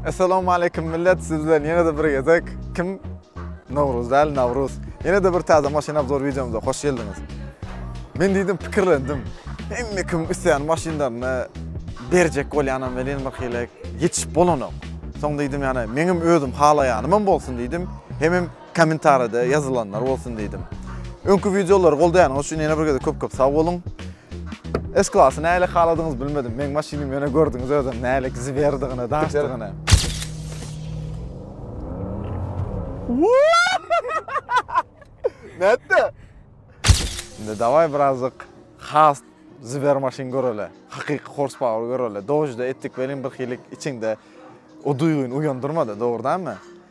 Assalamu aleykum millet, siz bilen ýene-de bir gezek kim? Nowruz däl, Nawruz. Ýene-de bir täze maşyn obzor wideomyza hoş geldiňiz. Men diýdim, pikirlendim. Hemme kim isleýän maşynlaryny berjek bolýanam welin bir hili ýetişip bolanok. Soň diýdim, ýani meňem özüm halaýanym hem bolsun diýdim. Hemem Kommentaride ýazylanlar bolsun diýdim. Öňki wideolary goldaýanyňyz üçin ýene bir gezek köp köp sag boluň. S klasy nälik haladyňyz bilmedim. Meň maşynym ýöne gördüňiz özem nälik ziberdigini, daşdygyny. Nätdi? Indi dawai birazjyk has ziber maşyn göreli. Hakyky horsepower göreli. Dojda etdik welin bir hilik içiňde o duýgyny uýandyrmady, dogrudanmy?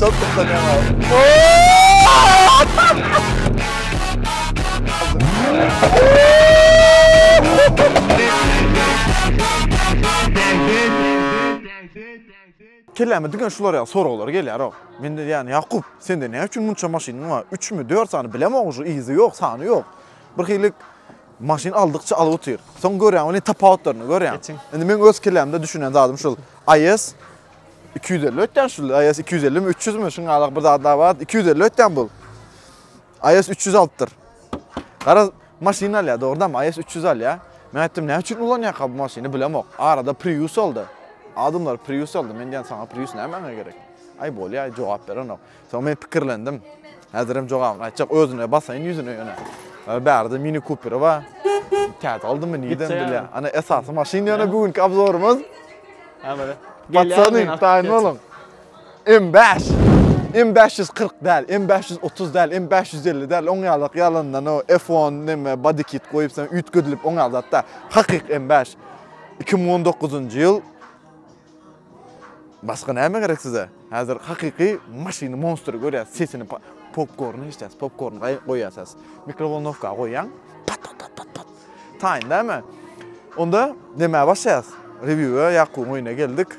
Çok kıskanıyorum abi. Kelleme diken şular ya sorgular gelýär o. Men de yani Yakup sende ne üçin munça maşynyň bar? 3 mü 4 sany bilemok şu izi yok, sany yok. Bir hilik Maşyn aldykça alyp otyr. Soň görýäň welin tapawutlaryny görýäň. Indi meň öz kellämde düşünen zadym şul. AES 250 ötýän şul. AES 250 mi 300 mi şuň alak bir zadlar bar. 250 ötýän bul. AES 300 alypdyr. Gara maşyn alýar dogrudan AES 300 alýar. Men aýtdym näme üçin ulanýarka bu maşyny bilemok. Arada Prius aldy. Adamlar Prius aldy. Men diýen saňa Prius nämäňe gerek? Aý bolýar jogap berenok. Soň men pikirlendim. Häzirem jogabyny aýtjak. Özüne basaýyn ýüzüne ýöne. Bärde Mini Cooper bar. Täze aldymy nidem bilýän. Ana esasy maşyn ýöne bu günki obzorymyz. Ha bele. Batsanyň taýyn boluň. M5. M540 däl, M530 däl, M550 däl. Oň ýalak ýalandan o F10 näme body kit goýup sen üýtgedilip oň ýalak zat däl. Hakyky M5. 2019-njy ýyl Başga näme gerek size? Häzir hakyky maşyny monstry görýäs sesini popkorny eşdýäs popkorny goýýasas mikrowolnowka goýýaň pat pat pat pat pat taýyn däme onda näme başlaýas rewiwe ýakubyň öýüne geldik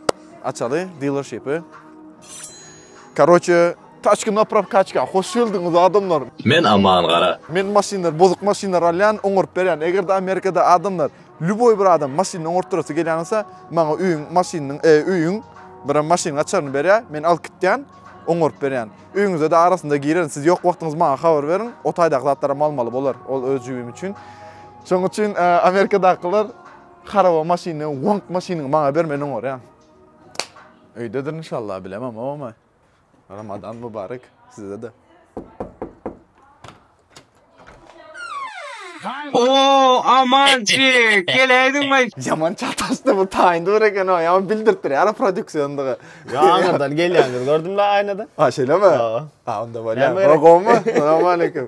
açaly dealershipy karoçe taçka na prokatçka hoş geldiňiz adamlar men aman gara men maşynlar bozuk maşynlar alýan oňaryp berýän egerde amerikada adamlar Lýuboý bir adam maşynyny oňartdyrasy gelýän bolsa, maňa öýüň maşynynyň, öýüň birem maşynyň açaryny berýär, men alyp gitýän, oňaryp berýän. Öýüňize-de arasynda girerin, siz ýok wagtyňyz maňa habar beriň, o taýdaky zatlaram almaly bolar, ol öz jübim üçin. Şonuň üçin Amerikadakylar haraba maşyny, wonk maşynyňy maňa bermän oňarýaň. Öýdedir inşallah, bilemem, oba. Ramadan Mubarek sizede. Oo Amanjik geläýdiňmi? Ýaman çataşdy bu taýyndy bir eken o. Ýaman bildiripdir ýa produksiýondygy. Ýaňydan gelýäňiz gördüm-le aýnada. Ha şeýlemi? Ha. Ha onda bolýar. Näme gerek? Gowymy? Salam aleýkum.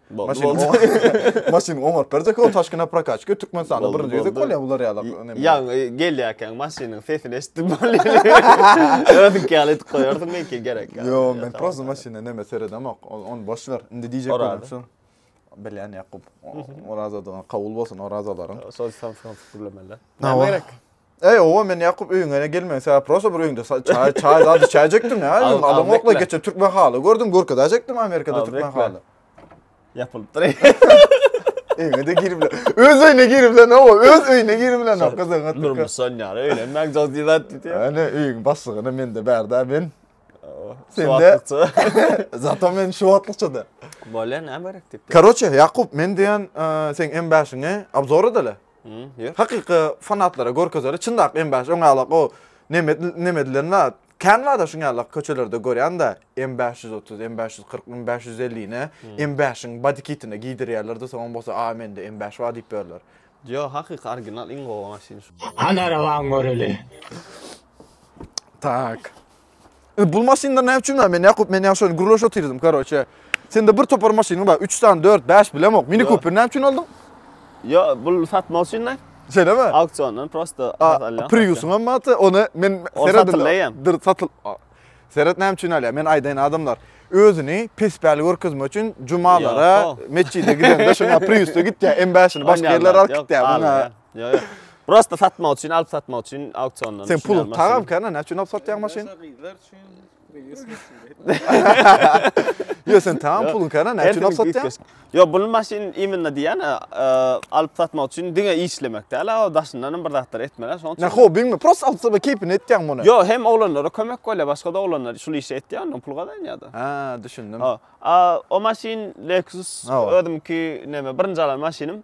Maşyn maşyn oňaryp berjek o taşkina prokatçyka Türkmenistanda birinji gezek bolýar bular ýaly. Ýa gelýärkäň maşynyň sesini eşitdim bolýar. Ödük ýaly edip goýardyň belki gerek. Ýo men prosta maşyna näme seredemok. Ony boş ber. Indi diýjek bolýan şu. Bilýän Ýakup. Oraza dogan kabul bolsun orazalaryň. Şol sen sen gürlemeli. Näme gerek? Eý, oba men Ýakup öýüňe gelmegiň sebäbi prosta bir öýüňde çaý çaý zat içäýjekdim ýa. Adam okla geçe türkmen haly gördüm, görkezäýjekdim Amerikada türkmen haly. Ýapylyp dury. Öýüňe-de girip bilen. Öz öýüne girip bilen, oba, öz öýüne girip bilen ok gyzyň atdyk. Durmuş sonýar, öýlenmäň jok diýip zat diýdi. Ana öýüň başlygyna mende bärde men. Sende. Zato men şu wagtlykça-da. Bolýar, näme gerek diýip. Karoçe, Ýakup, men diýen sen M5-iňe obzor edele. Hakyky fanatlara görkezeli çyndak M5 öň alak o neme neme edilen zat kän zada şuň ýalak köçelerde görýanda M 530 M 540 M 550 ne M 5-iň body kitini giýdirýärlerde soň bolsa a mende M 5 bar diýip berler. Ýok hakyky original iň gowy maşyn şu. Hany arabaňy göreli. Tak. Indi bul maşynlar näme üçin bar? Men Ýakup, men ýa şony gürleşip otyrdym, karoçe. Sende bir topar maşynyň bar, üç sany, dört, bäş bilemok. Mini Ýok. Cooper näme üçin aldyň? Ýo, bul satmak üçin de. Şeýlemi? Auksiondan prosta A, has alýan. Priusyň hem bardy, ony men Ol seredin. satyldy eýýäm. Dur, satyl. A, Seret näme üçin alýar? Men aýdaýyn adamlar. Özüni pespäli görkezmek üçin jumalara Ýoko. metjide gidende şuňa Priusda gitýär, M5-ini başga Onýan ýerlere zat alyp ýok, gitýär. Muňa almaýar. Ýa ýa. Prosta satmak üçin, alyp satmak üçin auksiondan. Sen pul tagam kana, näçe üçin alyp satýaň maşyn? Gyzlar üçin Ýa sen tagam pulun kana, näçe üçin alyp satýaň? Ýa bu maşyn imенно diýen, alyp satmak üçin diňe işlemek däl, o daşyndan hem bir zatlar etmek, şoň üçin. Nä hobbiňmi? Prosta alyp satmak keýpini etýäň muny. Ýa hem oglanlara kömek bolýar, başga da oglanlar şul işi etýär, ondan pul gazanýar-da. Hä, düşündim. O maşyn Lexus özümki näme, birinji alan maşynym.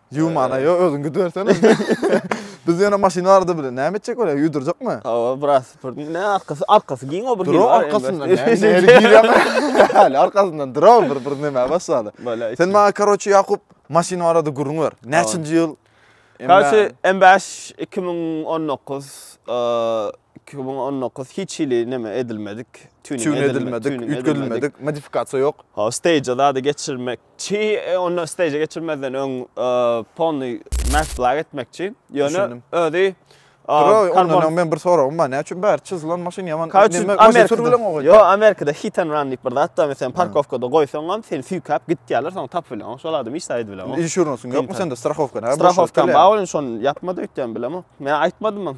Ýumana ýo özüň gidibersene. Biz ýöne maşyn bardy bile. Näme etjek bolýar? Ýuwdurjakmy? Hawa, biraz süpürdi. Ne arkasy, arkasy giň o bir hil. Duraw arkasyndan. Häli arkasyndan duraw bir bir näme başlady. Sen maňa karoçi Ýakup maşyn barada gürrüň ber. Näçinji ýyl? Karoçi M5 2019 2019 hiç hili näme edilmedik. Tüni edilmedik, üýtgedilmedik, modifikasiýa ýok. Ha, stage-a zady geçirmek Çy onda steje geçirmezden öň polny mass black etmek üçin. Ýöne özi Roy, ondan men bir soragym bar. Näme üçin bäri çyzylan maşyn ýaman? Näme sürülen o? Ýo, Amerikada hit and run diýip bir zat bar. Meselem, parkowkada goýsaň hem seni süýkäp gitýärler, soň tapyp bilýän. Şol adam hiç zat edip Insurance ýokmy sende, strahowka näme? Strahowka bar, ýöne şony ýapmady öýtýän bilemok. Men aýtmadym hem.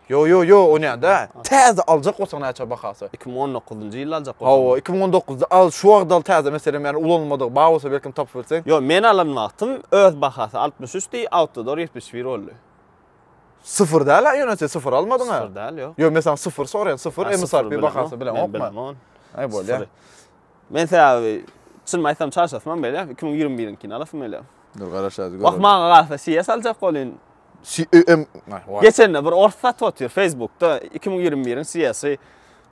Ýo ýo ýo o nädä? Täze aljak bolsaň näçe bahasy? Iki müň on dokuzynjy ýylda aljak bolsaň. Hawa iki müň on dokuzda al şu wagt al täze meselem ýani ulanylmadygy bar bolsa belkem tapyp bilseň. Ýo men alan wagtym öz bahasy altmyş üç di awtodor ýetmiş bir boldy. Syfyr däl a ýöne sen syfyr almadyň a. Syfyr däl ýok. Ýo men saňa syfyr soraýan syfyr msrp bahasy bileňokmy? Men bilemon. Aý bolýa. Men sebäbi çynymy aýtsam çarşasymam belýär iki müň ýigrimi biriňkini alasym gelýär. Dur garaşaýyz göreli. Wah maňa galsa siýes aljak bolyn. Geçende bir ors satyp otyr Facebookda 2021-iň siyasy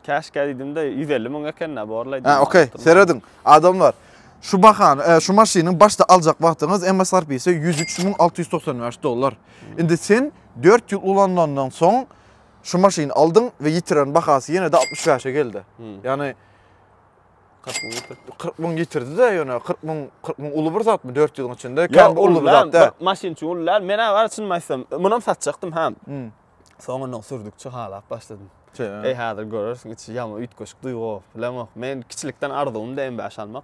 käşkä diýdimde 150 müň ekende borlaýdy. Ha, okey. Serediň, adamlar. Şu bahany, e, şu maşynyň başda aljak wagtyňyz MSRP-si 103695 dollar. Indi sen 4 ýyl ulanandan soň şu maşyny aldyň we ýitiren bahasy ýene-de 65-e geldi. Ýagny 40 müň getiripdir. 40 müň getirdi-de ýöne 40 müň 40 müň uly bir zatmy 400 ýylyň içinde? Ýok, Kän bir uly bir zat da. Maşyn üçin uly däl. Men agar çynymy aýtsam, munam satjakdym ha. Hmm. Soň ondan sürdükçe halap başladym. Eý, häzir görersiň, içi ýaman üýtgeşik duýgy bolup bilemok. Men kiçilikden arzuwymdy M5 almak.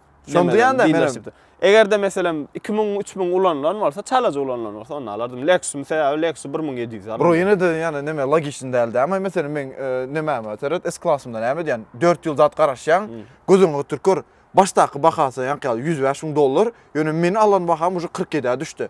Şony duýanda men Eger-de meselem 2000, 3000 ulanylan bolsa, çalaja ulanylan bolsa, onda alardym. Lexus-yň sebäbi Lexus 1700 alyp. Bro, ýene-de ýani näme logiçni däl däme. Meselem men e, nämäme seret, S-klasymda näme edýän? 4 ýyl zat garaşýaň, hmm. gözüňi gytyr kör. Başdaky bahasy ýaňky ýaly 105 müň dollar, ýöne men alan baham uje 47-ä düşdi.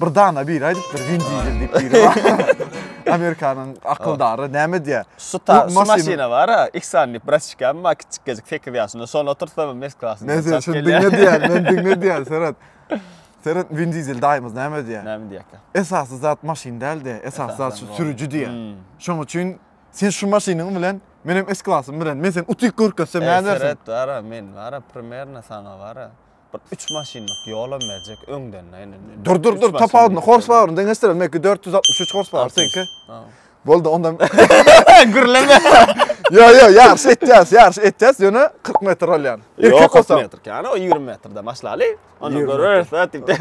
Bir dana biri aýdypdyr Win Diesel diýip biri bar. Amerikanyň akyldary näme diýýär? Şu ta şu maşyna bara, X-an diýip braçikam bar kiçikgejik 8 ýaşynda. Şony oturtsam hem eski klasynda. Men sen şunu diňle diýýär, men diňle diýýär, seret. Seret Win Diesel daýymyz näme diýýär? Näme diýýärkä? Esasy zat maşyn däl-de, esasy zat şu sürüji diýýär. Hmm. Şoň üçin sen şu maşynyň bilen Men hem S-klasym bilen, men sen utyk görkezsem nädersiň? Seret, bara, men, bara, primerno sana, bara. Bir üç maşynlyk ýolam berjek öňden indi. Dur dur dur tapawudyny hors poweryny deňeşdirelim. Meki 463 hors power seňki. Boldy onda. Gürleme. Yo yo ýaryş etýäs, ýaryş etýäs. Ýöne 40 metr bolýan. Erkek 40 metr. Yani o 20 metrde başlaly. Onda görüris ha tipde.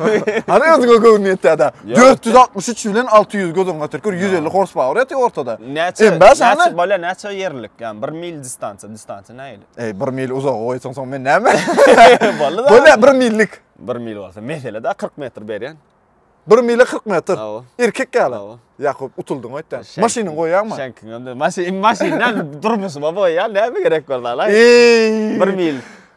Hani özüňe göwün ýetýär-de. 463 bilen 600 göz öňüne getir. 150 hors power ýetýär ortada. Näçe? Näçe bolýar? Näçe ýerlik? Yani 1 mil distansiýa, distansiýa nähili? Eý, bir mil uzaga goýsaň, soň men näme? Boldy-da. Bolýa, bir millik. Bir mil bolsa, mesele-de 40 metr berýän. Bir mile 40 metr. Awa. Erkek ýaly. Awa. Ýakup, utuldyň öýtdä. Şeň- Maşynyňy goýýaňmy? Şeňkiň hem de maşyn, maşyndan durmuşyma boýýan, näme gerek bar zala? Eý! Bir mil.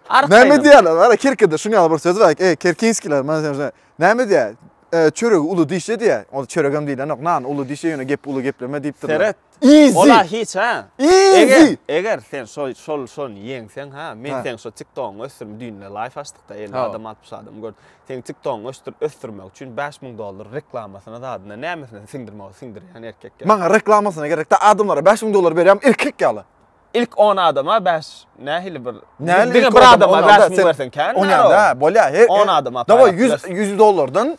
Ark Näme gaýnam. diýýärler? Hala Kerkede şuň ýaly bir söz bar. Eý, Kerkinskiler, men sen şuna- näme diýýär? E, çöregi uly dişe diýýär. Ol çörek hem diýilenok, nan uly dişe ýöne gep uly gepleme diýipdirler. Seret, Easy. Ola hiç ha. Easy. Eger, eger sen şol şol şol ýeňseň ha, men sen şol TikTok-yňy ösdürüm düýnde live açdykda 50 adam 60 adam gör. Sen TikTok-yňy ösdür ösdürmek üçin 5000 dollar reklamasyna zadyna nämesine siňdirmegi siňdirýän erkek. Maňa reklamasyna gerekde adamlara 5000 dollar berýän erkek ýaly. İlk 10 adama 5 nähili bir Näli bir adama 5000 bersen kän. Onýa da bolýa. 10 adama. Dawa 100 100 dollardan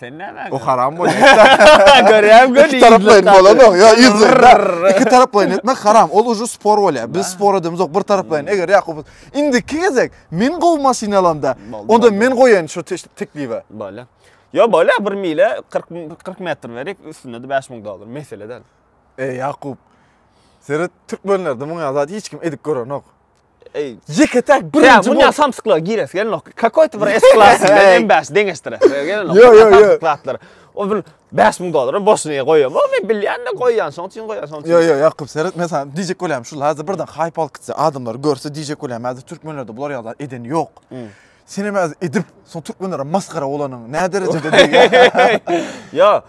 Sen näme? O haram bolýar. Görýän göni. Iki taraplaýyn bolanok. Ýa ýüzler. Iki taraplaýyn etmek haram. Ol uju spor bolýar. Biz spor edemiz ok bir taraplaýyn. Eger Ýakup indi iki gezek men gowy maşyn alanda, onda men goýaýyn şu teklibi. Bolýar. Ýa bolýar bir mile 40 40 metr berik, üstünde de 5000 dollar. Mesele däl. Ey Ýakup. Seret türkmenlerde muňa zat hiç kim edip görenok. Ey, Jeke tak Sen birinji bu bol. ne samsyklara giresi gelnok. Kakoýta bir S klasy bilen Ey. M5 deňeşdiresi gelnok. Yo, yo, yo. Samsyk zatlar. O bir 5000 dollary boşuna goýýan. O men bilýän-de goýýan, şoň üçin goýýan, şoň üçin. Yo yo Ýakup seret men sana diýjek bolýarym şu lazy birden haýp alyp gitse adamlar görse diýjek bolýarym häzir türkmenlerde bular ýaly zat edeni ýok. Senem az edip, son türkmenlere maskara bolanyň nä derejede diýýär. Ýo,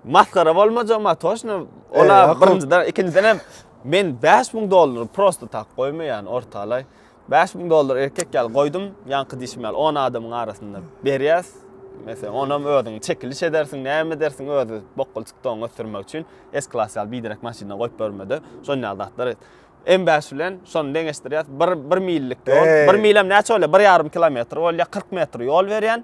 maskara bolmajak ma toşno. Ola birinjiden, ikinjiden hem men 5000 dollar prosta tak goýmaýan ortalaý. 5000 dollar erkek ýaly goýdum, ýaňky diýşim ýaly 10 adamyň arasynda berýäs. Meselem, onam özüň çekiliş edersiň, näme edersiň özi bokgul çykdygyňy ösdürmek üçin, S-klass ýaly biderek maşynda goýup bermede, şon ýaly zatlar et. M bäş bilen şony deňeşdirýäs. Bir, bir millik ýol. Eý. Bir milem näçe bolýar? Bir ýarym kilometr bolýar. 40 metr ýol berýän.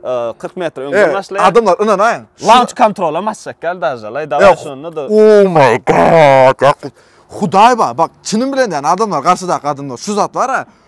Ee, 40 metr öňden Evet, başlaýar. adamlar ynanaýyň. Launch kontrolam açjak gel daže. Lay dawa Yok. şonda da. Oh my god. Bak, Hudaý bar. Bak, çynym bilen diýen adamlar, garşydaky adamlar şu zat bar-a.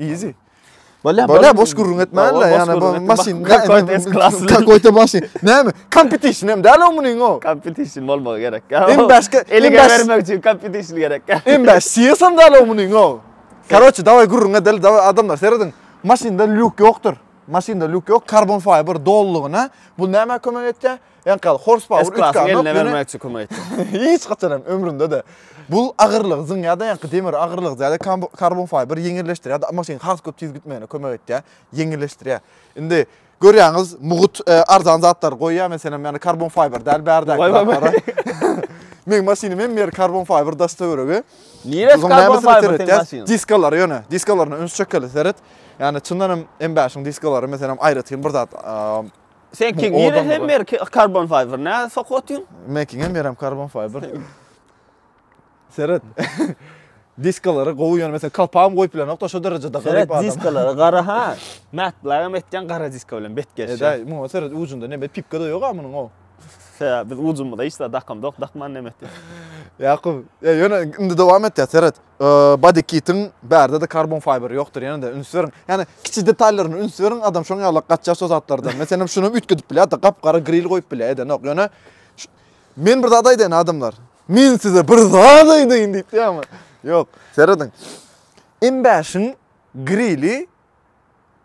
Easy. Bolýa, bolýa, boş gürrüň etmänle, ýa bu maşyn, kakoý te maşyn. Näme? Kompetision hem däl o munyň o. Kompetision bolmagy gerek. Hem başga, eli bermek üçin kompetision gerek. Hem baş, sesem däl o munyň o. Karoçi, daway gürrüň edeli, daway adamlar, seredin. Maşynda lýuk ýokdur. Maşynda lýuk ýok, karbon fiber dolugyna. Bu näme kömek etýär? Enkaz, horsepower üç S-klasyň eline bermekçi kim aýtdy? Hiç haçan hem ömründe-de. Bul agyrlygy zyňýar-da ýaňky demir agyrlygy zýada karbon fiber ýeňilleşdirýär-de maşyn has köp tiz gitmegine kömek etýär, ýeňilleşdirýär. Indi görýäňiz mugut arzan zatlar goýýar meselem ýany karbon fiber däl bärdäki zatlara. Meň maşynym hem ýeri karbon fiber daş töweregi. Niresi karbon fiber seň maşynyň? Diskalary ýöne, diskalaryna üns çekeli seret. Ýani çyndan hem M5-iň diskalary meselem aýratyn bir zat Sen kim ýere hem ber karbon fiber nä sokup otyň? Men kim hem berem karbon fiber. Seret. Diskalary gowy ýöne mesela kalpam goýup bilen ýokda şo derejede garyp adam. Diskalary gara ha. Mätblag hem etýän gara diska bilen bet geçýär. Edaý, muňa seret ujunda neme pipka da ýok ha munyň o. He, biz ujumyza hiç zat dakamda ýok, dakman neme etýär. Ýakup, ýöne indi dowam etýär, seret. Body kitiň bärde-de karbon fiber ýokdur ýene-de üns beriň. Ýani kiçi detallaryna üns beriň adam şoň ýalak gaçýar şo zatlardan. Meselem şunam üýtgedip bilýärdi gap-gara gril goýup bilýär edenok ýöne Men bir zat aýdaýyn adamlar. Men size bir zat aýdaýyn diýip diýýärmi? Ýok. Serediň. M5-iň grili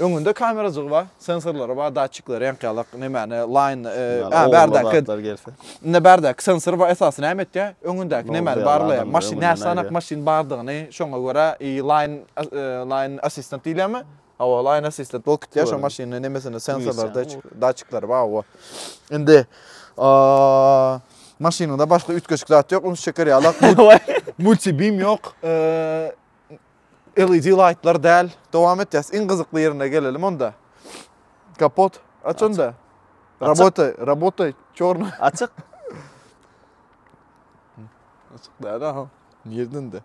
Öňünde kamerajygy bar, sensorlary bar, datçikleri, reňk-ýalak, nemäni, laýn, a bärdäki, indi bärdäki sensor bar, esasy näme etýär, öňündäki nemäni barlaýar, maşyn, näçe sanak maşyn bardygyny, şoňa görä, i laýn, laýn assistant diýilýärmi? Hawa, laýn assistant bolup gitýär, şo maşynyň nemesini, sensorlary, datçikleri bar, hawa. Indi, maşynyňda başga üýtgeşik zat ýok, ünsi çeker ýalak, multibim ýok, LED laýtlar däl. Dowam etýäs. Iň gyzykly ýerine gelelim onda. Kapot aç onda. Rabota, rabota çorna. Açyk. Açyk däl ha. Nirden de?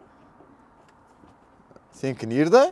Senki nirde?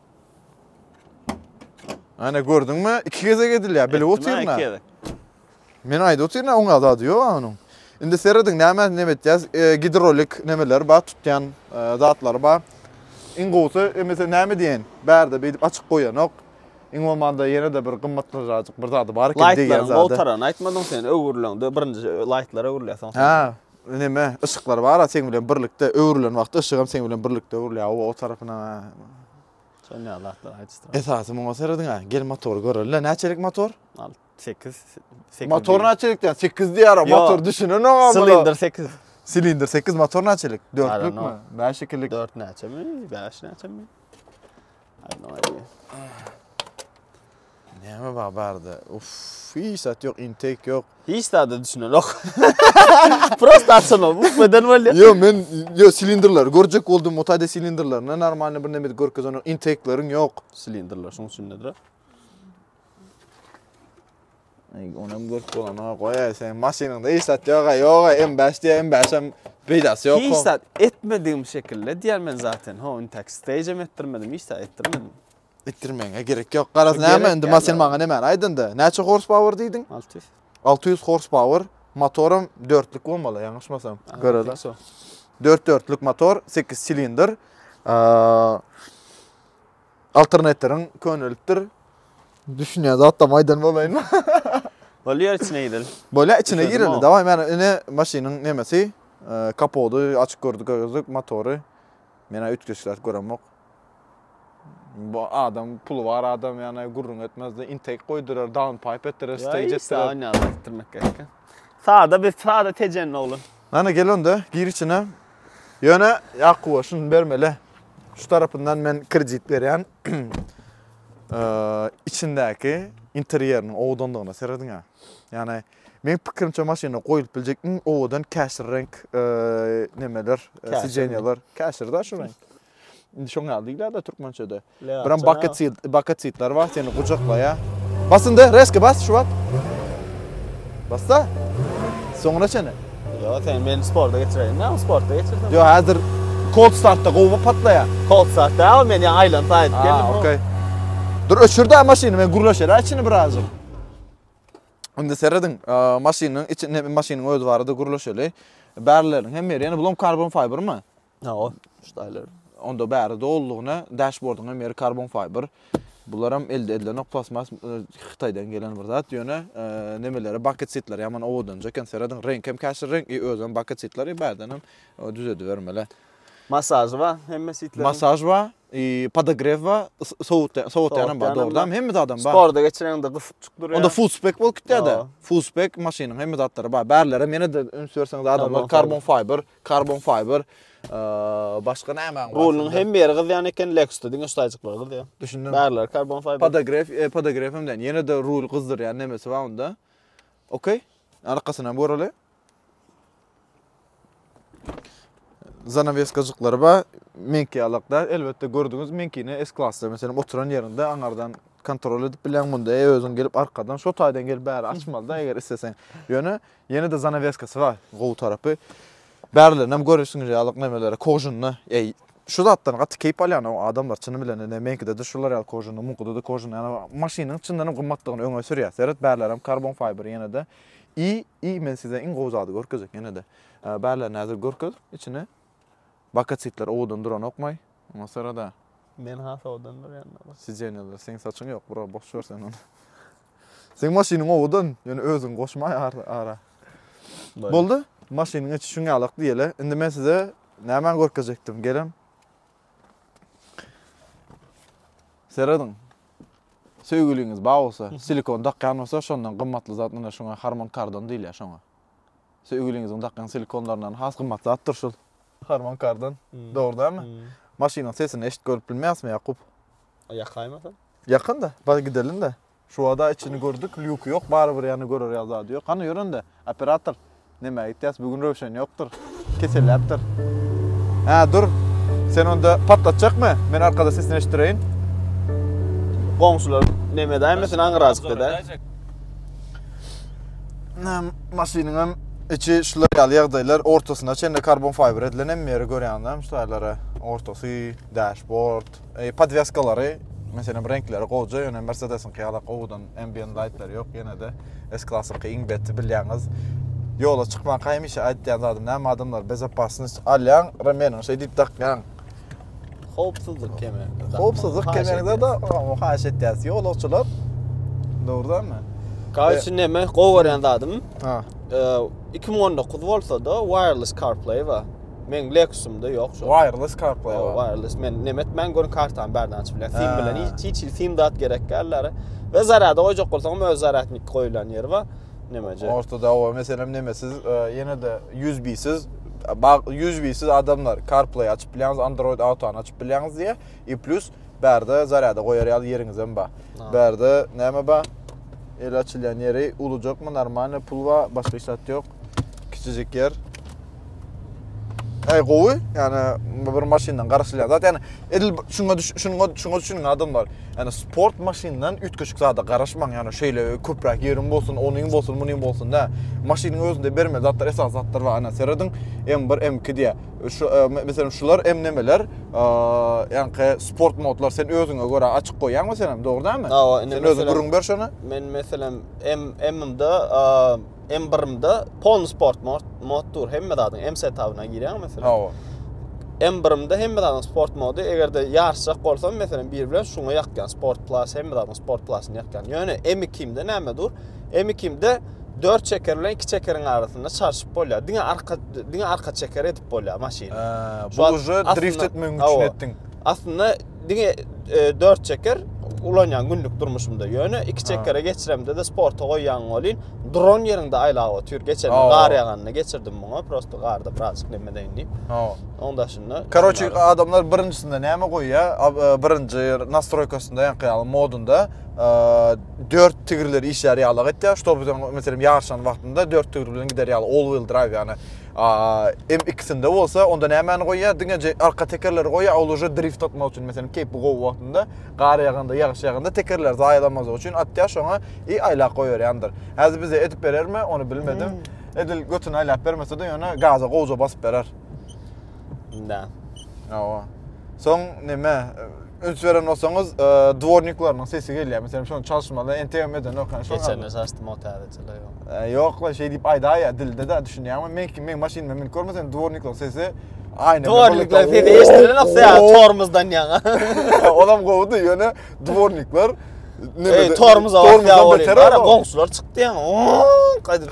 Ana gördüňmi? Iki gezek edilýär. Bilip otyrna. Men aýdyp otyrna oňa zady ýok onuň. Indi serediň näme näme etýäs? E, gidrolik nämeler bar, tutýan e, zatlary bar. Iň gowusy emese näme diýen? Bärde beýdip açyk goýanok. Iň bolmanda ýene-de bir gymmatlyjyk bir zady bar eken diýen zady. Laýtlaryň gowtarany aýtmadyň sen öwrüleňde birinji laýtlara öwrülýär soň. Ha, Neme, yşyklar bar-a seň bilen birlikde öwrülen wagty yşygam seň bilen birlikde öwrülýär o tarapyna-a. Şonýa zatlar aýdyşdyr. Esasy muňa serediň-ä. Gel motory göreli-le. Näçelik motor? Al, sekiz, sekiz. Motor näçelik diýýän? Sekiz diýýär-a motor düşünenogam. Silindr sekiz. Silindr sekiz, motor näçelik? Dörtlükmi? Bäşikilik. Dört näçemi? Bäş näçemi? Näme bar barda? Uff, hiç zat ýok, intake ýok. Hiç zada düşünenok. Prosta açanok, bu beden bolýar. Ýok, men ýok silindrler görjek boldum, mutade silindrlerine normalny bir näme görkezenok, intake-leriň ýok. Silindrler şoň üçin nedir? Onam görüp bolan ha goýa sen maşynyňda iş sat ýoga ýoga M5 diýe M5 hem peýdasy ýok. Iş sat etmedigim şekilde diýer men zaten. Ho, indi tak stage hem etdirmedim, iş sat etdirmedim. Etdirmeňe gerek ýok. Garaz näme indi maşyn maňa näme aýdynda. Näçe horsepower diýdiň? 600. 600 horsepower. Motorum 4-lük bolmaly, ýalňyşmasam. Görele. 4-4-lük motor, 8 silindr. Alternatoryň könelipdir. Düşünýän zatlam aýdan bolaýynmy? Bolýar içine gireli. Bolýar içine gireli. Daway men ine maşynyň nemesi kapody açyk gördük gördük motory. Men üýtgeçler göremok. Bu adam puly bar adam ýany gürrüň etmezdi. Intake goýdurar, down pipe etdirer, stage etdirer. Ýa ýa etdirmek gerek. Sada biz sada tejen oglan. Nana gel onda gir içine. Ýöne Ýakuba şuny bermeli. Şu tarapyndan men kredit berýän. Içindäki interýeriniň owadandygyna serediň ha. Ýani men pikirimçe maşynda goýulyp biljek iň owadan käşir renk nemeler, sijenýalar, käşir da şu renk. Indi şoň ýaly diýilýär-de türkmençede. Biram baketsit, baketsitler bar, seni gujaklaýar. Bas indi, reski bas şu wagt. Bas da. Soňuna çenli. Ýok, sen meni sporta geçiräýiň. Näme sporta geçirseň? Ýok, häzir cold startda gowy patlaýar. Cold start däl, men ýa aýlanyp aýdyp geldim. Ha, okey. Dur, öçür-dä maşyny, men gürleşeräý içini birazjyk. Indi serediň, maşynyň içinde, maşynyň özi barada gürleşeli. Bärlileriň hem ýeri, ýöne bulam karbon fibermi? Hawa, ştaýler. Onda bäri dolulygyna dashbordyň hem ýeri karbon fiber. Bular hem elde edilenok plastmas Hytaýdan gelen bir zat. Ýöne nemeleri bucket seatler ýaman owadanja eken. Seradyň reňk hem käşir reňk i özem bucket seatler i bärden hem düzedibermeli. Masaž bar hemme seatleriň. Masaž bar, i podogrew bar, sowutýan sowatýanam bar dogrudan hemme zadam bar. Sporda geçireňde gysyp çykdyrýar. Onda full spek bolup gitýärde. Full spek maşynyň hemme zatlary bar. Bärlerem ýene-de üns berseňiz adamlar karbon fiber. Karbon fiber başga nämäň bar? Rulnyň hemme ýeri gyzýan eken, Lexus-da diňe şu taýjyklar gyzýar. Düşündim. Bärleri karbon fiber. Podograf, e, podograf hem diýen. Ýene-de rul gyzdyrýan nemesi bar onda. Okey. Arkasyny hem göreli. Zanaweskajyklary bar. Meňki ýalakda. Elbetde gördüňiz, meňkini S-klasda, meselem, oturan ýerinde aňardan kontrol edip bilýän munda özüň gelip arkadan şu taýdan gelip bäri açmalyda eger isteseň. Ýöne Ýene-de zanaweskasy bar. Gowy tarapy. Bärilerinem görüpsiňiz ýaly nemeleri kožunly. Eý, şu zatdan gaty keýp alýan o adamlar çyny bilen ine meňkide-de şular ýaly kožunly, muňkyda-da kožunly. Ýa maşynyň çyndanam gymmatlygyny öňe sürýär. Seret bärilerem karbon fiber ýene-de. I, i men size iň gowy zady görkezjek ýene-de. Bärilerini häzir görkez içini. Bakatitler owadan duranokmaý. Ondan sorada. Men has owadan durýan-da bax. Sideniýalar seň saçyň ýok bro boş ber sen ony. Seň maşynyň owadan ýöne özüň goşma ara. Boldy maşynyň içi şuň ýalak diýeli. Indi men size nämäni görkezjekdim gelem. Serediň. Söýgüliňiz bar bolsa silikon dakýan bolsa şondan gymmatly zat ine şuňa harman kardon diýilýär şoňa. Söýgüliňiziň dakýan silikonlaryndan has gymmat zatdyr şol. Harman Kardon, dogry dälmi? Maşynyň sesini eşit görüp bilmeýäsmi Ýakup? A ýakaýmasam? Ýakyn-da, bar gidelim-de. Şuwada içini gördük, lýuky ýok, barybir ýany görer ýaly zady ýok. Hany ýör indi, operator. Nämä gitýäs, bu gün Röwşen ýokdur. Keselläpdir. Hä, dur. Sen onda patlatjakmy? Men arkada sesini eşitdireýin. Goňşular neme edäýmesin, aňyrajykda-da. maşynyň hem içi şular ýaly ýagdaýlar ortasyna çenli karbon fiber edilen hem ýeri görýäňizmi şularlara ortasy dashboard e, podweskalary meselem reňkleri gowja ýöne mersedesiňki ýaly gowudan ambient lightlar ýok ýene de s klassyňky iň beti bilýäňiz ýola çykmanka hemişe aýtýan zadym näme adamlar bezopasnost alýaň remeniň şey diýip dakýaň Howpsuzlyk kemerini. Howpsuzlyk kemerini de haýyş etýäris. Ýolagçylar dogrudanmy? Gaýy üçin näme gowy görýän zadym? Ha. 2019 bolsa-da wireless CarPlay bar. Men Lexus-ymda ýok şu. Wireless CarPlay bar. Wireless men näme etmän görün kartany bärden açyp bilýän. Sim bilen hiç hiç sim zat gerek däldir. We zarýada goýjak bolsaňam öz zarýadnik goýulan ýeri bar. Nemeje? Orta dawa meselem neme siz e, ýene de USB-siz USB-siz adamlar CarPlay açyp bilýäňiz, Android Auto açyp bilýäňiz diýe. I plus bärde zarýada goýar ýaly ýeriňiz hem bar. Bärde näme bar? El açylýan ýeri ulujakmy, normalny pul bar, başga hiç zat ýok. Kiçijik ýer. Ay gowy. Yani bir maşyndan garaşylýan zat. Yani edil şuňa şuňa şuňa düşüniň adamlar. Yani sport maşyndan üýtgeşik zada garaşmaň. Yani şeýle köpräk ýeriň bolsun, onuň bolsun, munuň bolsun da. Maşynyň özünde berme zatlar, esas zatlar bar. Ana serediň M1, M2 diýä. Şu e, meselem şular M nemeler? E, yani sport modlar sen özüňe görä açyk goýýaňmy sen hem, dogry dämi? Sen özüň gürrüň ber şony. Men meselem M M-de M1-imde Pony Sport mod dur hemme zadyň M setabyna girýär meselem. Hawa. M1-imde hemme zadyň sport mody eger-de ýaryşjak bolsam meselem bir bilen şuňa ýakýan sport plus hemme zadyň sport plusyny ýakýan. Ýöne M2-imde näme dur? M2-imde 4 çeker bilen 2 çekeriň arasynda çarşyp bolýar. Diňe arka diňe arka çeker edip bolýar maşyny. Bu uje drift etmegiň üçin etdiň. Aslynda diňe e, dört çeker ulanýan günlük durmuşymda. Ýöne iki çekere geçiremde de sporta goýýan bolýan. Dron ýerinde aýlap otyr. Geçen gar ýaganda geçirdim muňa. Prosta garda birazjyk neme deýin diýip. Hawa. Oň daşynda. Karoçi adamlar birincinde näme goýýa? E, birinji nastroýkasynda ýaňky ýaly modunda e, dört tigirler işlär ýaly etýär. Ştoby sen meselem ýaryşan wagtynda dört tigir bilen gider ýaly all wheel drive ýany A M ikisinde bolsa onda nämäni goýýar? Diňe arka tekerleri goýýar, ol uje drift atmak üçin. Meselem, keýpi gowy wagtynda, gar ýaganda, ýagyş ýaganda tekerleri zaýalanmazlyk üçin atýar, şoňa i aýlap goýberýändir. Häzir bize edip berermi, ony bilmedim. Hmm. Edil götüni aýlap bermese-de, ýöne gaza gowja basyp berer. Da. Hawa. Soň näme? Üns beren bolsaňyz, e, dworniklarynyň sesi gelýär. Meselem, şony çalşmaly, entegem edenok, ýa şol Geçen de açdym o täzeçiler ýok. E, Ýok la, şeý diýip aýdaýýar dilde de, düşünýäňmi? Men kim, meň maşynyma münüp görmeseň, dworniklaryň sesi aýna. Dworniklaryň sesi eşidilenok ýa tormozdan ýaňa. Olam gowudy, ýöne dworniklar Ey, tormoz awasy ýa bolýar. Goňşular çykdy ýaňa. Gaýdyp,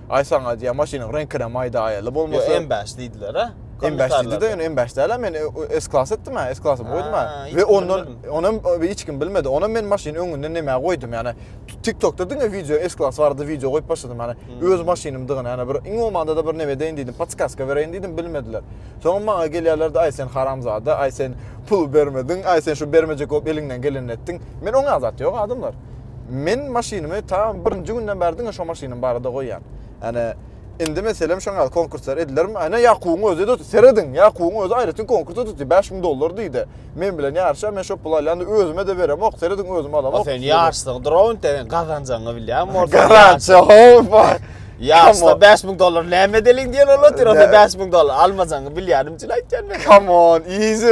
Aý saňa diýýän maşynyň reňkinem aýda aýaly bolmasa. Ýok M5 diýdiler-a. M5 diýdi-de ýöne M5 däl-a men S klas etdim-ä S klasym goýdum-a. We ondan onam hiç kim bilmedi. Onam men maşyny öňünden nämä goýdum ýani TikTokda diňe wideo S klas barada wideo goýup başladym ýani öz maşynymdygyny ýani bir iň bolmanda-da bir neme edeýin diýdim podskaska bereýin diýdim bilmediler. Soňam maňa gelýärler-de aý sen haramzada aý sen pul bermediň aý sen şu bermejek bolup eliňden gelenini etdiň. Men oňa zat ýok adamlar. Men maşynymy ta birinji günden bäri diňe şo maşynym barada goýýan. Ýani indi meselem şoň ýaly konkurslar edilermi? Ana Ýakubyň özi de serediň, Ýakubyň özi aýratyn konkurs tutdy, 5000 dollar diýdi. Men bilen ýaryşa, men şo puly alýan, özüme de beremok, serediň özüm alamok. O sen ýaşlyk dron sen gazanjagyňy bilýäňmi orta? Garantiýa howpa. Ýaşda 5000 dollar näme edeliň diýen olar, sen onda 5000 dollar almajagyňy bilýänim üçin aýtýan men. Come on, easy.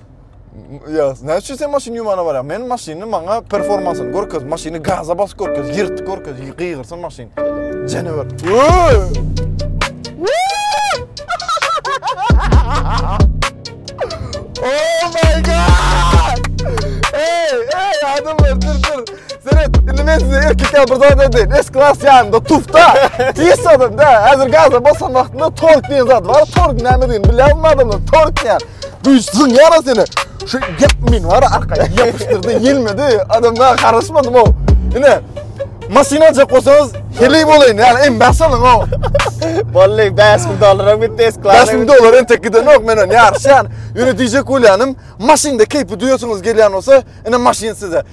Ya ne için sen maşyn yumana var ya? Men maşynı maňa performansını görkez, maşynı gaza bas görkez, yırtık görkez, gıyırsın maşyn. Canavar. oh my god! Hey, hey adamlar dur dur. Seret, indi men size erkek ya burada da değil. Es klas yanında, tufta. Pis adam da. Hazır gaza basan vaxtında tork diyen zat var. Tork ne mi deyin? Bilen mi adamlar? Tork ne? Duýsun ýara seni. Şu gep men bar arka ýapyşdyrdy, ýelmedi. Adamda garaşmadym o. Ine. Maşyn aljak bolsaňyz, heli bolaýyn. Ýa em bäş alyň o. Bolly, 5000 dollaram gitdi esklar. 5000 dollar entek gidenok menen ýaryşýan. Ýöne diýjek bolýanym, maşynda keýpi duýasyňyz gelýän bolsa, ine maşyn size.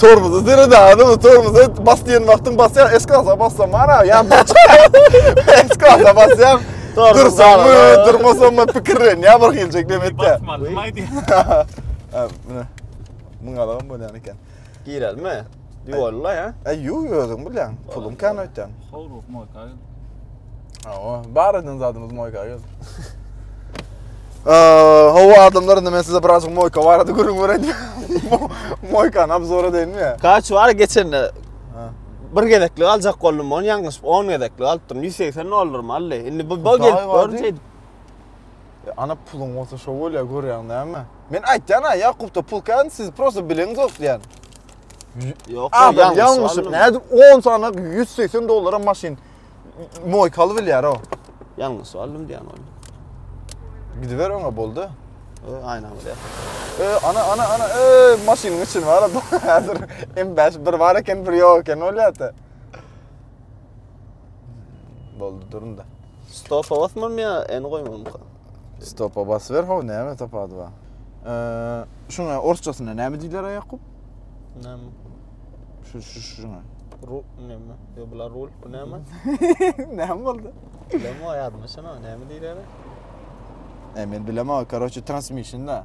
Tormozy diri dagynmy tormozy bas diýen wagtyň basýar eski asa basaman a ýa bir eski asa basýaň dursaňmy durmasaňmy pikirlenýär bir hiljek dem etýär basmalymy aýdýar mine muň alagam bolýan eken girelmi ýolla ýa e ýu özüň bilýäň puluň kän öýtýän howluk moýka Hawa, bar eden zadymyz moýka gel. Hawa adamlar indi men size birazjyk moýka barada gürrüň bereýin. Moýkany obzor edeýinmi ýa? Kaç bar geçende bir gezeklik aljak boldum ony ýalňyşyp 10 gezeklik alypdyryn 180 dollarmy aldy indi bu bu gelip görünç edip e, ana puluň bolsa şo bolýar görýäň näme men aýtýan a ýakupda pul kän siz prosta bileňiz ýok diýýän ýok ýalňyşyp nädip 10 sanak 180 dollara maşyn Moýkaly bilýär o. Ýalňyş aldym diýen ol. Gidiber oňa boldy. Ö, aýna bolýar. Ö, ana ana ana ö, maşynyň içini bar adam. Häzir M5 bir bar eken, bir ýok eken bolýar-da. Boldy durun da. Stopa basmam ýa, eni goýmam. Stopa basber how näme tapady ba. Eee şuna orsçasyna näme diýler Aýakup? Näme? Şu şu şuna. Ru näme? Yo bular rul bu näme? Näme boldy? Näme aýadymy şuna näme diýler? E men bilemok. Karoçe transmission da.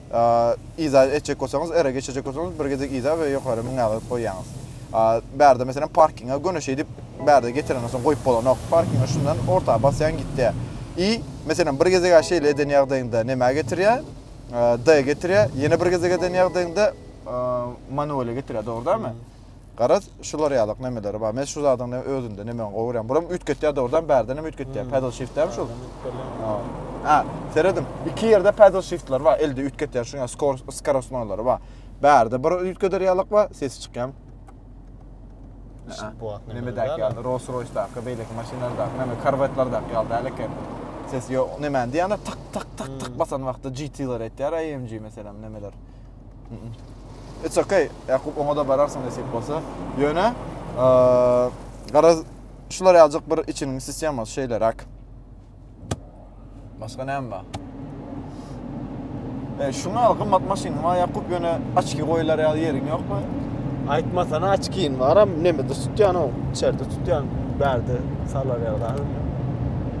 Yza etjek bolsaňyz, R-e geçirjek bolsaňyz, bir gezek yza we ýokary mün agyryp goýýaňyz. Bärde meselem parkinga göni şeýdip bärde getirenden soň goýup bolanok. Parkinga şundan orta basýaň gitýä. Y, meselem bir gezeg-ä şeýle eden ýagdaýyňda nämä getirýä? D-e getirýä. Ýene bir gezeg eden ýagdaýyňda manual-e getirýä, dogry dälmi? Garaz, şular ýalyk nemeleri bar. Men şu zadyň ne özünde nemeň gowy görýän. Buram üýtgetýär dogrudan, bärden hem üýtgetýär. Pedal shift-dämi şul? Ha, serediň. Iki ýerde pedal shift-ler bar, elde üýtgetýän şu ýaly skor, skorostnoýlary bar. Bärde bir üýtgeder ýalyk bar, sesi çykýan. Nemedäki ýaly, Rolls-Royce-daky, beýleki maşynlardaky, neme, Corvette-lardaky ýaly däl eken. Sesi ýok, nemäni diýýän-ä, tyk, tyk, tyk, tyk basan wagtda GT-ler etýär, AMG meselem, nemeler. It's okay. Ýakup oňa-da bararsyň nesip bolsa. Ýöne garaz şular ýaljak bir içiniň sistemasy şeýleräk. Başga näme bar? E, şuňa al gymmat maşynyň bar Ýakup ýöne açki goýlar ýaly ýeriň ýokmy? Aýtmasana açkin baram, nemede tutýan o, içerde tutýan, bärde salar ýagdaýy.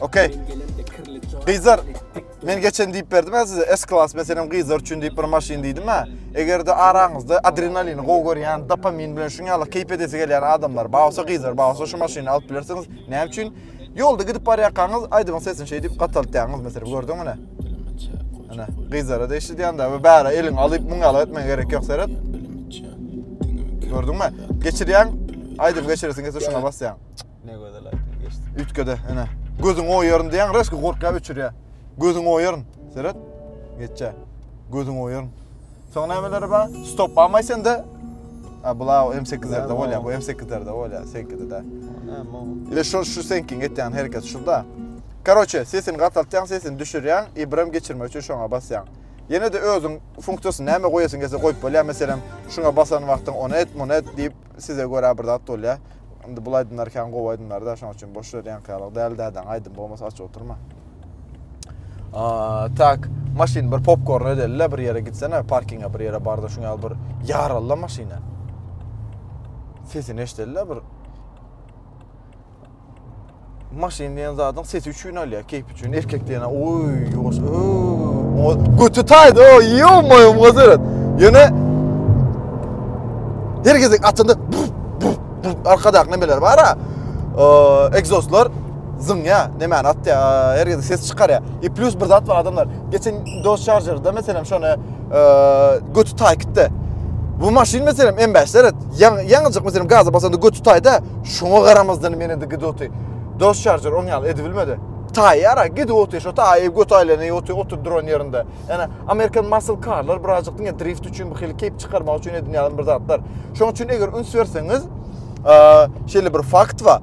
Okey. Gyzlar, men geçen diýip berdim ha size S-klass meselem gyzlar üçin diýip bir maşyn diýdim ha. Eger de araňyzda adrenalini gowy görýän, dopamin bilen şuň ýaly keýp edesi gelýän adamlar, bawsa gyzlar, bawsa şu maşyny alyp bilersiňiz. Näme üçin? Ýolda gidip barýarkaňyz aýdyň sesini şeý diýip gataltýaňyz meselem, gördüňmi ne? Ana, gyzlara da eşidýändä, bu bäre eliň alyp muň ýaly etmän gerek ýok seret. Gördüňmi? Geçirýän, aýdyp geçiresiň, geçiresiň, şuna basýaň. Ne gözel aýtym geçdi. Üýtgede, ene. Gözüň oýaryn diýen reski gorkýa öçürýä. Gözüň oýaryn. Seret. Geçe. Gözüň oýaryn. Soň nämeleri bar? Stop bamay sende. A bula M8-lerde bolýa, bu M8-lerde bolýa, seňkide de. Ile şu şu seňkiň etýän hereket şuda. Karoçe, sesini gataltýaň, sesini düşürýäň, Ibram geçirmek üçin şoňa basýaň. Ýene de özüň funksiýasyny näme goýasyň gelse goýup bolýar, meselem, şuňa basan wagtyň ony et, muny et diýip, Size görä bir zat bolýa. Indi bul aýdymlar kän gowy aýdymlarda, şoň üçin boş ýere ýaňky ýalyk däl dädäň aýdym bolmasa aç oturma. Aa, tak, maşyn bir popkorn ödelle bir ýere gitsene, parkinga bir ýere barda şuň ýaly bir ýaralla maşyna. Sesini eşdelle bir. Maşyn diýen zadyň sesi üçin alýar, keýp üçin. Erkek diýene, oý, ýuwaş, oý. Götü taýdy, oý, ýomoý, mozeret. Ýöne her gezek atynda arkadakyna beler bar-a. Egzozlar zyňýa, nämäni atýa, her gezek ses çykarýa. E plus bir zat bar adamlar. Geçen dos şarjerda meselem şony götü tay kitde. Bu maşyn meselem M5 deret. Yaňyjyk meselem gaza basanda götü tayda. Şoňa garamazdan meni de gidi oty. Dos şarjör on ýaly edi bilmedi. Tay yara gidi oty. Şo tay ev götü aylany oty otur duran yerinde. Yani Amerikan muscle carlar birazcık dinge drift üçin bu hili keyp çıkarmak üçin edin yalan bir zatlar. Şoň üçin eger üns verseniz şeýle bir fakt var.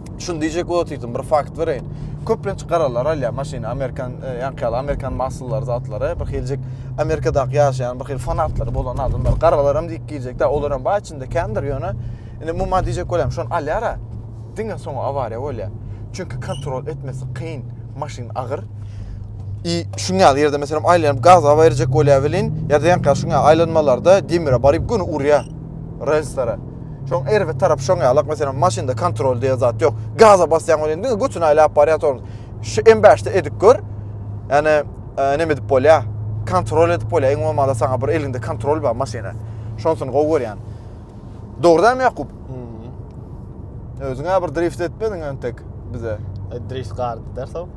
Şuny diýjek bolup otyrym, bir fakt bereýin. Köplenç garalar alýar maşyny, amerikan, e, ýaňky ýaly amerikan mahsullary, zatlary. Bir hiljik Amerikadaky ýaşaýan bir hil fanatlary bolan adamlar, garalar hem diýip girjekdi. Olar hem bar içinde kändir ýöne. Indi muma diýjek bolýarym, şony alýar-a. Diňe soň awariýa bolýar. Çünki kontrol etmesi kyn, maşyn agyr. I şuň ýaly ýerde meselem aýlanyp gaza berjek bolýar welin, ýa-da ýaňky ýaly şuň ýaly aýlanmalarda demire baryp göni urýar relslara. Şoň erbet tarapy şoň ýalak, meselem, maşynda kontrol diýen zat ýok. Gaza basýaň welin diňe götüni aýlap barýar tormoz. Şu M5-de edip gör. Ýani e, näme edip bolýar? Kontrol edip bolýar. Iň bolmanda saňa bir elinde kontrol bar maşyna. Şonsuny gowy görýän. Dogrudan Ýakup? Hmm. Özüňe bir drift etmediň entek bize. E, drift gardy dersow.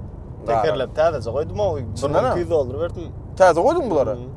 Tekerlep täzeje goýdum o. 1200 dollar berdim. Täze goýduň bulary? Hmm.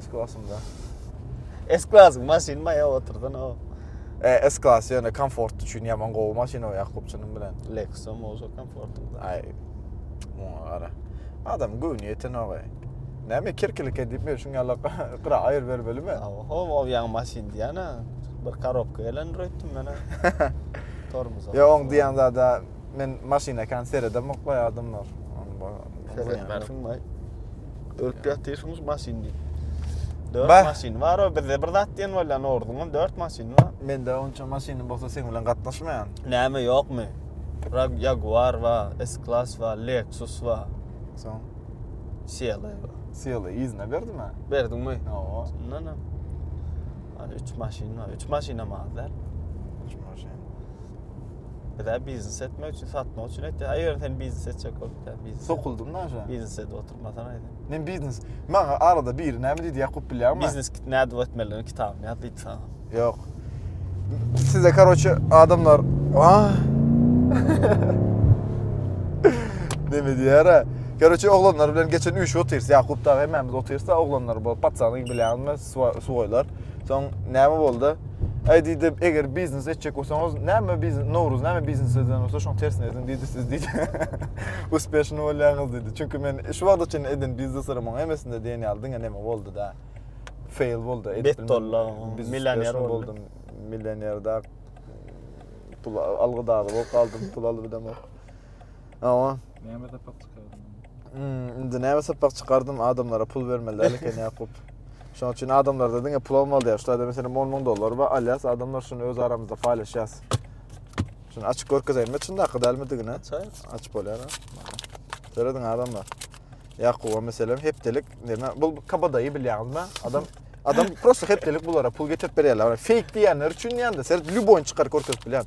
S klasynda. S klasy maşyn maýa oturdan o. E, S klasy ýöne komfort üçin ýaman gowy maşyn o Ýakupçynyň bilen. Lexus-am bolsa komfort. Aý. Muňa gara. Adam göwni ýeten o. Näme kirkilik edip men şuň ýala gyra aýyr bermelimi? Oho, o ýaňy maşyn diýýän-ä. Bir korobka gelendir öýtdüm men-ä. Tormoz. Ýa oň diýýän zada Men maşyna kan seredemok baý adamlar. Seretmezsiň baý. Ölüp ýatyrsyňyz maşyn diýip. Dört maşyn bar o bizde bir zat diýen bolýan orduňam dört maşyn bar. Mende onça maşynym bolsa sen bilen gatnaşmaýan. Näme ýokmy? Rag Jaguar wa, S-Class wa, Lexus wa. Soň? Siyala ýa. Siyala ýüzüne berdim ha. Berdiňmi? Ýa. Şundan ha. Hadi üç maşyn bar. Üç maşyn hem az däl. Üç maşyn. Bizä biznes etmek üçin, satmak üçin etdi. Eger sen biznes etjek bolup, sen biznes. Sokuldym da aşa. Biznes edip oturmasan aýdy. Men biznes. Maňa arada biri näme diýdi, ýakup bilýärmi? Biznes kit näde etmelidigini kitabyny ýaz diýdi sana. Ýok. Size karoçe adamlar. Ah. Näme diýär? Karoçe oglanlar bilen geçen üýşüp otyrys. Ýakup da hemmämiz otyrys da oglanlar bolup, patsany bilýärmi, suwaýlar. Soň näme boldy? Ay diýdi, eger biznes etjek bolsaňyz, näme biznes, Nowruz näme biznes eden bolsa şoň tersine ediň diýdi siz diýdi. Uspeşni bolýaňyz diýdi. Çünki men şu wagta çenli eden bizneslerimiň hemmesinde diýen ýaly diňe neme boldy da. Fail boldy. Bet dollar, milioner boldum. Milioner da pul algy dagy bolup galdym, pul alyp edemok. Awa. Näme sapak çykardym? Hmm, indi näme sapak çykardym? Adamlara pul bermeliler eken Ýakup. Şonuň üçin adamlarda diňe pul almaly diýär. Şularda meselem 10 müň dollar bar, alýas, adamlar şuny öz aramyzda paýlaşýas. Şuny açyp görkezeýin, men şunda hakyda elmidigine. Çaý açyp bolýar. Serediň adamlar. Ýakuba meselem hepdelik, näme? Bu kabadaýy bilýäňizmi? Adam Adam prosta hepdelik bulara pul getirip berýärler. Fake diýenler üçin diýende, sen lýuboýny çykaryp görkezip bilýän.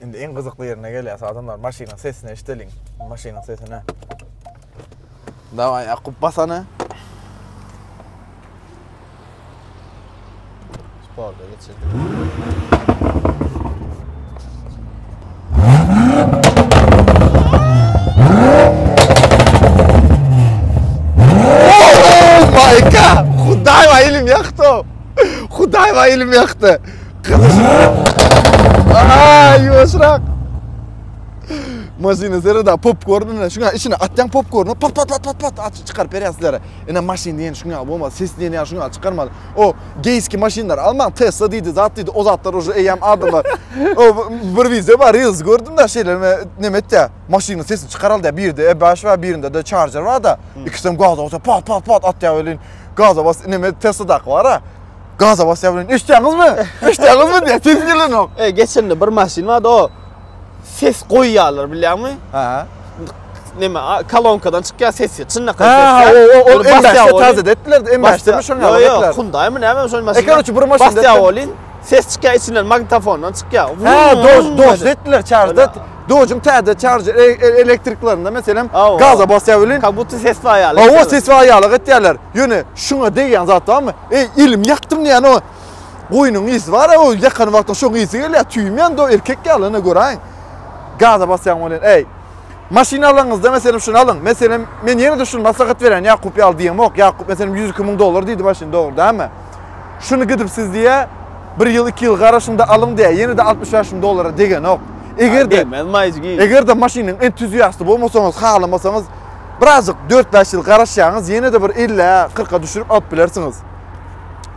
Indi iň gyzykly ýerine gelýäs, adamlar, maşynyň sesini eşideliň, maşynyň sesini. Daway, Ýakup, basany. Sporda geçirdik. Hudaýwa ilim ýakdy. Hudaýwa ilim ýakdy. Aaa, ýuwaşrak. Maşynyň serede popkorn bilen şuňa içine atýan popkorny pat pat pat pat pat aç çykaryp berýär sizlere. Ine maşyn diýen şuňa bolmaz. Ses diýen ýa şuňa çykarmaly. O geýski maşynlar almaň. Tesla diýdi, zat diýdi. O zatlar uje eýýäm adamlar. O bir wideo bar, reels gördüm da şeýle neme etýär. Maşynyň sesini çykaraldy diýär. Birde E5 bar, birinde de Charger bar da. Ikisem gaza basýar. Pat pat pat atýar welin. Gaza bas, neme Tesla daky bar-a. Gaza basýar bilen eşitýäňizmi? Eşitýäňizmi diýýär. Sesi gelenok. E, geçende bir maşyn bardy, o ses goýýarlar bilýärmi? Ha. Neme, kolonkadan çykýar sesi, çynlak ses. Ha, o o o embassy taze etdiler, embassy mi şoňa ýaly etdiler. Ýok, Hyundai mi näme şoň maşyn. Eker üçin bir maşyn. Basýar bolin, ses çykýar içinden magnitofondan çykýar. Ha, dos dos etdiler çarjda. Dojum täze çarj e, e, elektriklerinde meselem gaza basýar bolin. Kabut ses baýaly. O ses baýaly etýärler. Ýöne şuňa degýän zat barmy? Eý, elimi ýakdym diýýän o goýnuň ysy bar, o ýakan wagtyň şoň ysy gelýär, tüýmän do erkek ýaly ene göräýiň. Gaza basýaň welin, eý, maşyn alaňyzda meselem şuny alyň, meselem men ýene-de şuny maslahat berýän Ýakup ýaly diýemok, Ýakup meselem ýüz iki müň dollar diýdi maşyn dogry dälmi? Şuny gidip siz diýýä bir ýyl, iki ýyl garaşyňda alyň diýýä, ýene-de altmyş bäş müň dollara degenok. Eger-de, eger-de maşynyň entuziasty bolmasaňyz, halamasaňyz, Birazjyk dört-bäş ýyl garaşýaňyz, ýene-de bir ellä, kyrka düşürip alyp bilersiňiz.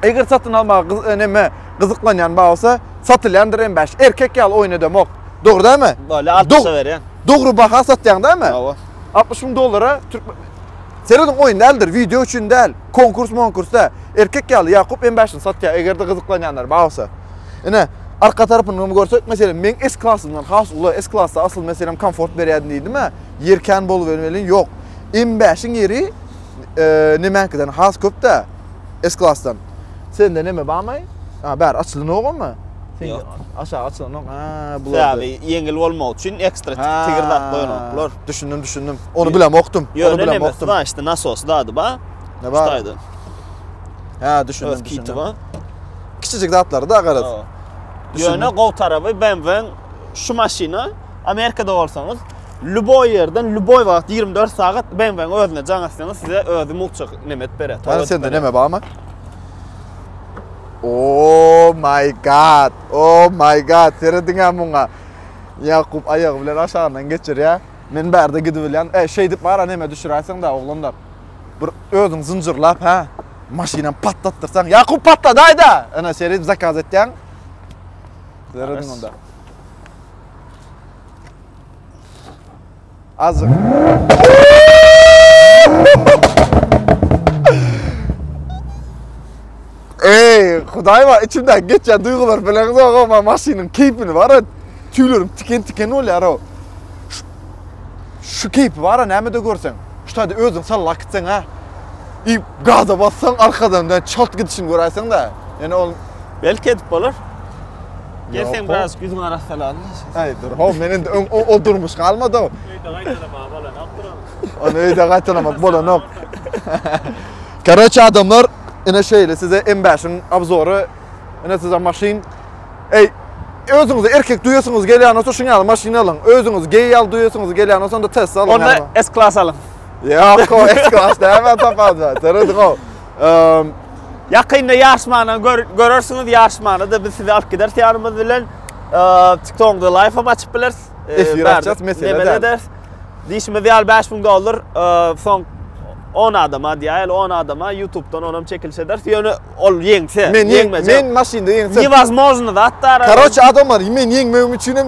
Eger satyn almaga gyz, e, neme, gyzyklanýan bar bolsa, satylýandyr hem bäş. Erkek ýaly oýnadamok. Dogry dämi? Bolýa, altmyşa berýän. Dogry baha satýaň dämi? Hawa. 60 müň dollara türk Serediň oýun däldir, wideo üçin däl, konkurs monkurs dä. Erkek ýaly Ýakup M bäşini satýar, eger-de gyzyklanýanlar bar bolsa. Ine, arka tarapyny hem görsek, meselem, meň S-klasymdan has uly, S-klasda asyl meselem komfort berýärdi diýdim-ä. Ýer kän bolubem welin ýok. M bäşiň ýeri nemäňkiden has köp-dä, S-klasdan. Sende neme barmy? A, bäri açylanogamy? Ýok. Aşagy açylanok. A, bularda. Sebäbi ýeňil bolmagy üçin ekstra tigir zat goýanoklar. Düşündim, düşündim. Ony bilemokdym. Ýöne neme, znaçti, nasosy zady bar. Ne bar? Hytaýdan. Hä, düşündim, düşündim. Kiçijik zatlary-da garaz. Ýöne gowy tarapy BMW-iň şu maşyna Amerikada bolsaňyz, ljuboý ýerden, ljuboý wagt, ýigrimi dört sagat BMW-niň özüne jaň atsaňyz, size özi mugtjak nemet berer. Ýa sende näme barmy? Oh my god. Oh my god. Serediňä muňa. Ýakup aýagy bilen aşagyndan geçirýär. Men bärde gidibilýän. E, şeý diýip mara näme düşüräýseň da oglanlar. Bir özüň zynjyrlap, hä? Maşyna patlatdyrsaň. Ýakup patladaýda. Ana seredip zakaz etýäň. Serediň onda. Azzyk. Ey, Hudaý bar, içimde geçýän duýgular bilen zogama maşynyň keýpini bar. Tüýlerim tiken-tiken bolýar o. Şu keýpi bar, näme-de görseň. Şu taýda özüň sallak gitseň ha. I gaza bassaň arkadan da çalt gidişini göräýseň da. Ýene ol belki edip bolar. Gelsen biraz yüzün arassalan. Ay dur. Ho men indi o, o durmuş kalmadı. Öýde gaýtalama bolan okduram. Onu öýde gaýtalama bolan ok. Karoç adamlar ine şeýle size M5-iň obzory. Ine size maşyn. Ey özüňizi erkek duýasyňyz gelýän bolsa şuň ýaly maşyn alyň. Özüňiz geý ýaly duýasyňyz gelýän bolsa onda Tesla alyň. Onda S-klass alyň. Ýok, S-klass däme tapady. Teredi go. Ýakynda ýaryşmany görersiňiz, ýaryşmana-da biz sizi alyp gideris ýanymyz bilen. TikTokda live hem açyp bileris. Efir açacak mesele däl. Diýşimiz ýaly 5000 dollar soň 10 adama diýäýeli 10 adama YouTube'dan onam çekiliş ederis. Ýöne ol ýeňse, ýeňmejek. Men maşynda ýeňsem. Newazmozny zatlar. Karoç adamlar, men ýeňmegim üçin hem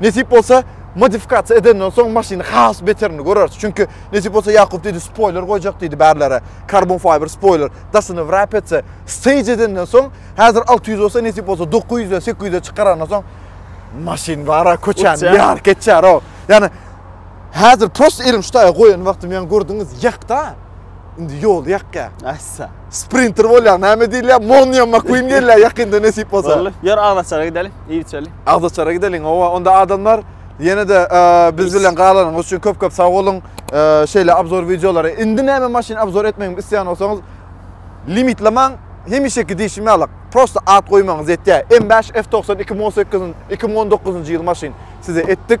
Nesip bolsa modifikasiýa edenden soň maşyny has beterini göreris. Çünki nesip bolsa Ýakup diýdi spoiler goýjak diýdi bärlere. Carbon fiber spoiler daşyny wrap etse, stage edenden soň häzir 600 bolsa nesip bolsa 900-e 800-e çykarandan soň maşyn bara köçäni Uçýa. ýaryp geçer o. Ýani häzir prosta elim şu taýa goýan wagtym ýaňy gördüňiz ýakda. Indi ýoly ýakýar. Assa. Sprinter bolýar. Näme diýilýär? Monýa McQueen gelýär ýakynda nesip bolsa. Boldy. Ýör Agzaçara gideli. Iý içeli. Agzaçara gideliň. Owa, onda adamlar ýene-de biz bilen galanyňyz üçin köp-köp sag boluň. Şeýle abzor wideolary. Indi näme maşyn abzor etmegimi isleýän bolsaňyz, limitlemäň. Hemişeki diýşim ýaly, prosta at goýmagyňyz ýetýär. M5 F92 Mo 8 2019-njy ýyl maşyn size etdik.